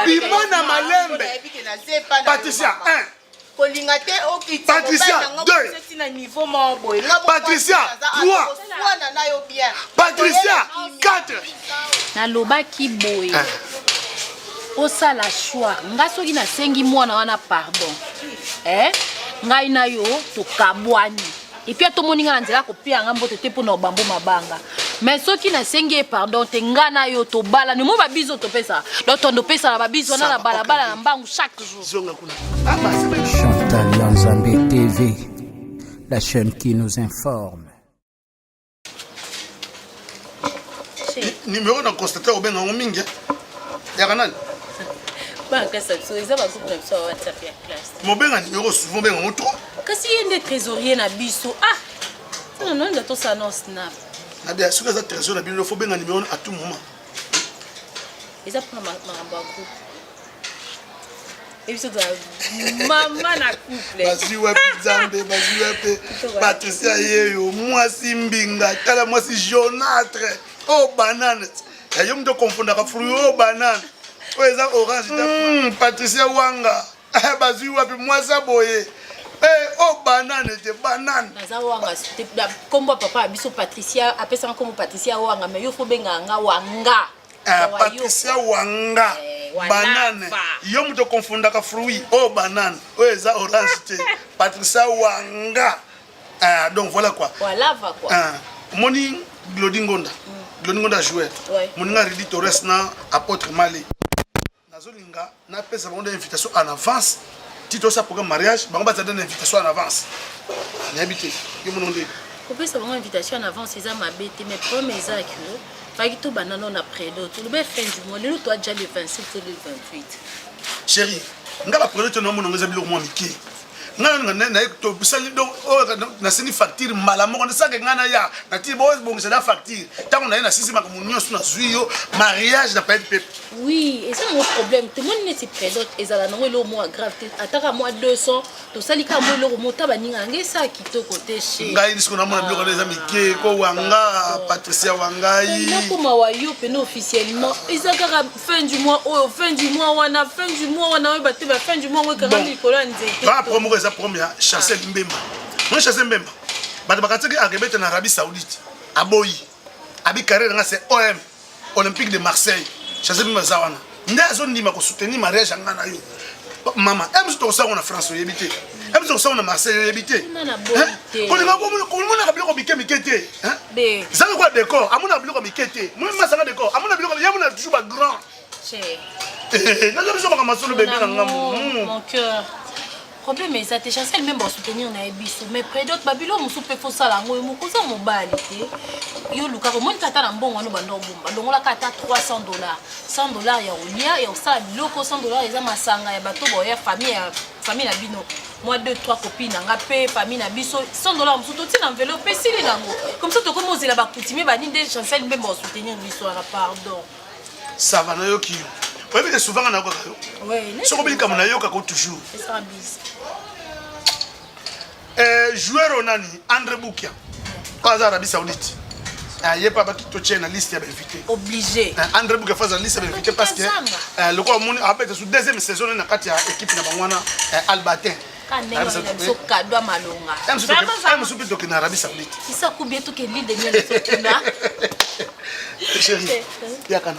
bima na malembe patricia 1 kolinga te okita patricia 2 na niveau moko boye patricia 3 wana nayo bien patricia 4 nalobaki boye ah. osala choix nga soki nasengi mwana wana pardon eh ngai na yo tokabwani epuis ata omoni ngai na nzela kopeya ngai mbote te mpo na obambo mabanga mais soki nasengi ye pardon te ngai na yo tobalani omoi babizi oyo topesaka donc tondo opesaka babizi wana na balabala na mbangu chaque jour Chantal Yanzambe TV, la chaîne qui nous informe. numéro na constate obenga yango mingi eh? yaka nani mobenga numéro souvent obenga yango trop kasi ye nde trésorier na biso ah nono nda tosala na snap nabia soki aza trésorier na bino fo benga numéro à tout moment eza mpona makambo ya groupe ebiso tozala mama na couple bazwi wapi nzambe bazwi wapi patricia yeyo mwasi mbinga tala mwasi jonatre o oh, banane eh, yo moto okonfondaka fruit o oh, banane oyo oh, eza orange hmm, patricia wanga eh, bazwi wapi mwasi aboye Eh, o oh, banane te banane naza wanga nkombo ya papa ya biso patricia apesaka nkombo patricia wanga mai yo fo bengaka nga wanga Eh, patricia wanga eh, banane yo moto okonfundaka fruit oyo oh, banane oyo oh, eza orange te patricia wanga eh, donc voilà quoi omoni eh, glodi ngonda mm. glodi ngonda joueur moninga ridi torres na apôtre mali nazolinga napesa bango na invitation en avance ti tosa programme mariage bango bazala na invitation en avance nayebi te yo mono nde kopesa bango invitation en avance eza mabe te mais problème eza ke faki tobanda no na predo tolobe fin du mois lelo toaja le 27 to le 28 chéri nga bapredo te naomonango eza biloko mwa mike ngai naye tosali donc oyo oh, nasini facture mbala moko nasake ngai naya nati bobongisa na facture ntango naye nasisi makambo nyonso nazwi yo mariage na payete pepe oui eza yango problème tomoni neti présente ezala nango eloko mwa grave te ataka mwa 200 tosali kaka mwa eloko mota baninga yango esala kitoko te che ngai lisiko namona biloko na eza ah, mike ko wanga patricia wangai nakoma wa yo mpena officiellement eza kaka fin du mois oyo oh, fin du mois wana fin du mois wana oyeba te ba fin du mois yango ekangami likolo ya nzete ba promo eza promo ya chancel ah. mbemba moi chancel mbemba bato bakataki akebeta na arabie saoudite aboyi abi carrière nga c'est om olympique de marseille chancel mbemba aza wana nde azondima kosoutenir mariage yanga na yo mama ems tokosango na france oyebi te ems tokosango na marseille oyebi te kolingakomonaka biloko mike mike te zanga kwa décor amonaka biloko mike te masanga décor amona biloko ye amona toujours ba grand naza biso makambo masolo bebe na ngambo problème eza te chancel meme basoutenir na ye biso mais prédote babilo mosusu mpe fosala yango yo moko oza mobali te yo olukaka omoni kata na mbongo wano banda obomba longolaka ata 300 dollars 100 dollars ya kolia ya kosala biloko 100 dollars eza masanga ya bato boya famille ya famille na bino mwa 2 3 copine na nga mpe famille na biso 100 dollars mosusu totina enveloppe mpe esili nango comme ça tokomi ozela bakutimie bani nde chancel mpe baosoutenir biso wana pardon sava nayoki yo oyebi ke souvent nga nayokaka yo soki obi likambo nayoka ko toujours Eh, joueur oyo nani andre bukia oyo aza arabie saoudite eh, ye mpe abaki totie na liste ya bainvité obligé eh, andre bukia fo aza na liste ya bainvité parce que eh, lokola omoni abeta su deuxième saison ne na kati ya équipe na bango wana eh, albatin mosusu mpe tokende na arabie saoudite chéri eh, yakana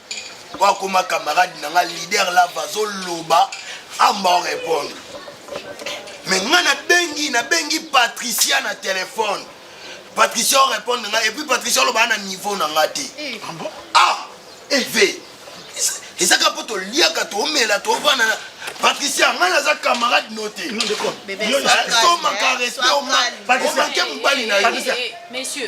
po akoma camarade na nga leader lava azoloba amba o répondre me nga nabengi nabengi patricia na telefone patricia o répondre nga epuis patricia olobaa na niveau na nga te eh. ah ev eh, ezaka mpo toliaka tomela tovanda na patricia ngai naza camarade no te tomaka respect omake mobali na yo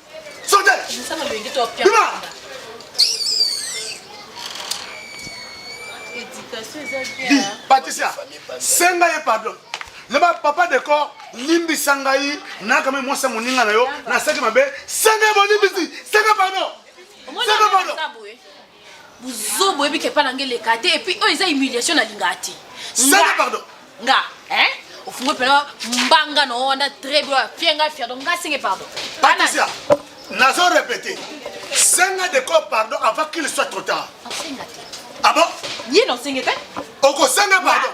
Patricia, senga ye pardon. Leba papa decor limbisa ngai nayaka me mwasi ya moninga na yo nasaki mabe senga ye bolimbisi senga pardon senga pardon buzoba oyebi ke epai na ngai eleka te epuis oyo eza humiliation nalingaka te sala pardon nga eh ofungo mpena mbanga na wana très bien apie ngai fier donc ngai senge pardon patricia nazo répéter senga de corps pardon avant qu'il soit trop tard ah bon ye na osenge te okosenga pardon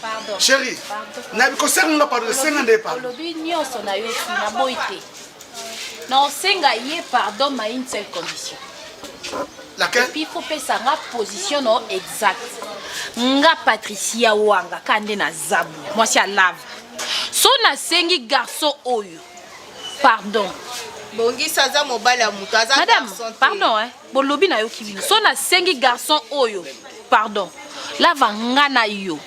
Pardon. Chérie. Pardon. Na bikosenga nga pardon, senga nde pardon. Olobi nyoso na yo si na boyi te. Na osenga ye pardon ma une seule condition. Laquelle? Puis faut pesa nga position no exact. Nga Patricia Wanga kande na zabu. Moi si alave. So na sengi garçon oyo. Pardon. Bongisa aza mobali ya moto aza Madame, garçon te. pardon hein. bolobi nayoki bino so nasengi garçon oyo pardon lava nga na yo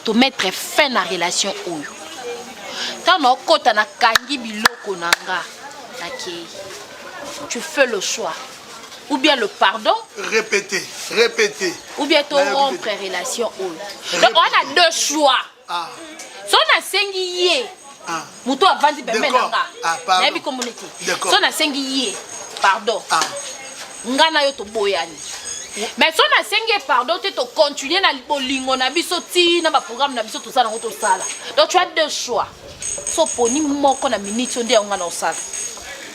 tomettre fin na relation oyo ntango naokɔta nakangi biloko na nga nakei tu fais le choix ou bien le pardon répéter répéter ou bien to rompre relation oyo donc on a deux choix ah. so nasengi ye ah. moto avandi pembe na nga ah, nayebi komona te so nasengi ye pardon ah. nga na yo toboyani mais so nasengi ye pardon te tocontinue na bolingo na biso ti na baprogramme na biso toza nango tosala donc tu as deux choix so poni moko na miniti oyo nde yango nga na osala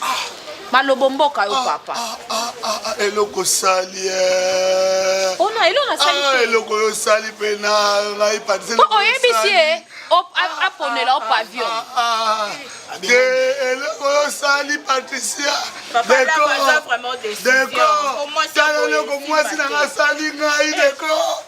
ah. malobo mboka yo ah, papa ah, eloko osali eh. ona oh, eloko nasali eloko yo osali mpe na ngai patiselo oyebisi ye aponela o pavillon te eloko yo osali patricia dekotala eloko mwasi na ngai asali ngai deko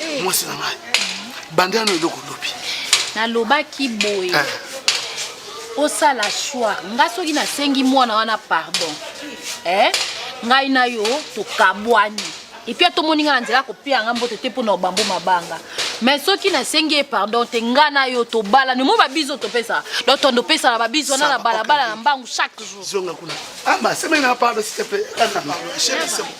eh. mwasi na ngai banda yano eloko lobi nalobaki boye eh. osala choix nga soki nasengi mwana wana pardon eh? ngai na yo tokabwani epuis atomoni ngai na nzela kopeya ngai mbote te mpo na obambo mabanga mais soki nasengi ye pardon te ngai na yo tobalani omo babizo topesa donc tondo opesana babizo wana na balabala na mbangu chaque jour zonga kuna ama ah, semena pardon s'il te plaît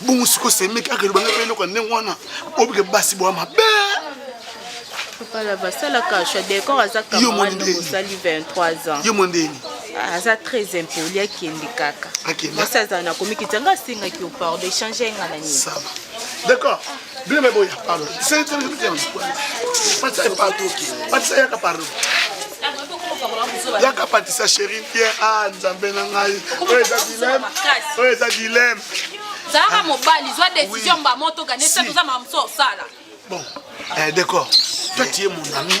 bongo siko semeki akeloba ngai mpe eloko ya ndenge wana obike basi bwa mabe kala basalaka sha decor aza kamarade mosali 23 ans yo mondeni ah, aza très impoli akende kaka mwasi azala na komikitanga asengaki yo pardon echange enga na nini d'accord bino me boya palo patisa ye palo patisa yaka palo yaka patisa chéri ye a ah, nzambe na ngai oyo eza dileme oyo eza dileme zalaka mobali zwa décision mba moto gane te toza makambo so osala bon eh, d'accord toi tu es mon ami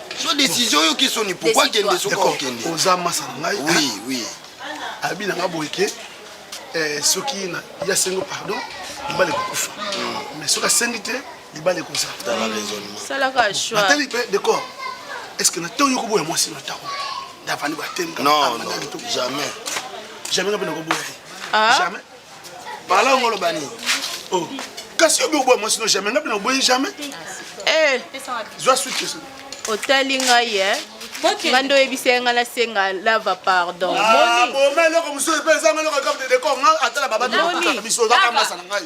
so décision oyoki soni pourkoi kende soki okende oza masa na ngai oui oui abi na ngai boye ke eh, soki ya sengo pardon libala ekokufa mm. mais soki asengi te libala ekoza natali mpe decor est ce que na ntango yoko boya mwasi na ntango ndavandi batemga jamais jamais ngape nakoboya ye ah. jamais Balango loba nini? Oh. Kasi yo bobwa mwasi no jamais, ngapi na boyi jamais. Eh. Zwa suite question. Otali ngai eh. nga nde oyebisa ye nga nasenga lava pardon ah, boma eloko mosusu mpe ezanga eloko ekabde deko nga atala babatu biso bakambasa na ngai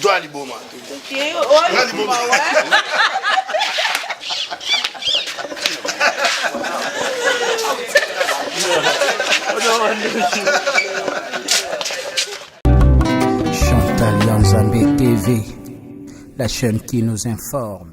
Joa liboma. Okay. Joa liboma. Chantal Yanzambe TV, la chaîne qui nous informe.